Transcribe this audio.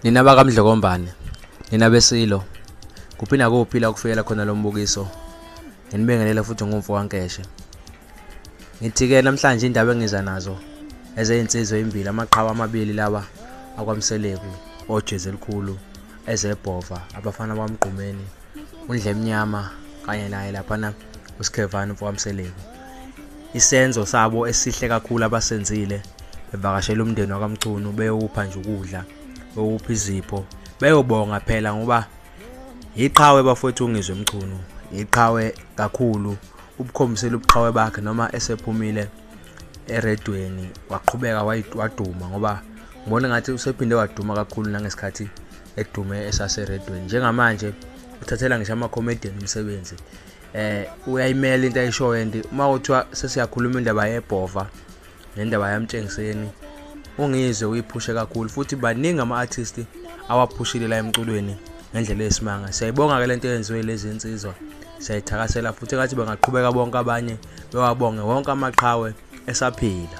nina bakamdlokombane nina besilo kuphi nakuphi la kufikela khona lo mbukiso nginibingelela futhi ngumfo wankeshe ngithi-ke namhlanje indaba engiza nazo ezeyinsizwa eyimbili amaqhawe amabili lawa akwamseleku ojezi elikhulu ezebhova abafana bamgqumeni undle emnyama kanye naye laphana usikhevani mfowamseleku isenzo sabo esihle kakhulu abasenzile bevakashela umndeni wakamchunu beyowupha nje ukudla beyowupha izipho beyobonga phela ngoba yiqhawe bafowethu ungizwe mchunu yiqhawe kakhulu ubukhombisela ubuqhawe bakhe noma esephumile eredweni waqhubeka waduma ngoba ngibona ngathi usephinde waduma kakhulu nangesikhathi edume esaseredweni njengamanje uthathela ngisho ama-comedian umsebenzi eh uyayimela into ayishoyo and uma kuthiwa sesiyakhuluma indaba yebhova nendaba yamtshengiseni ungizwe uyiphushe kakhulu futhi baningi ama-artist awaphushile la emculweni ngendlela yesimanga siyayibonga-ke le nto eyenziwe lezi nsizwa siyayithakasela futhi engathi bangaqhubeka bonke abanye bewabonge wonke amaqhawe esaphila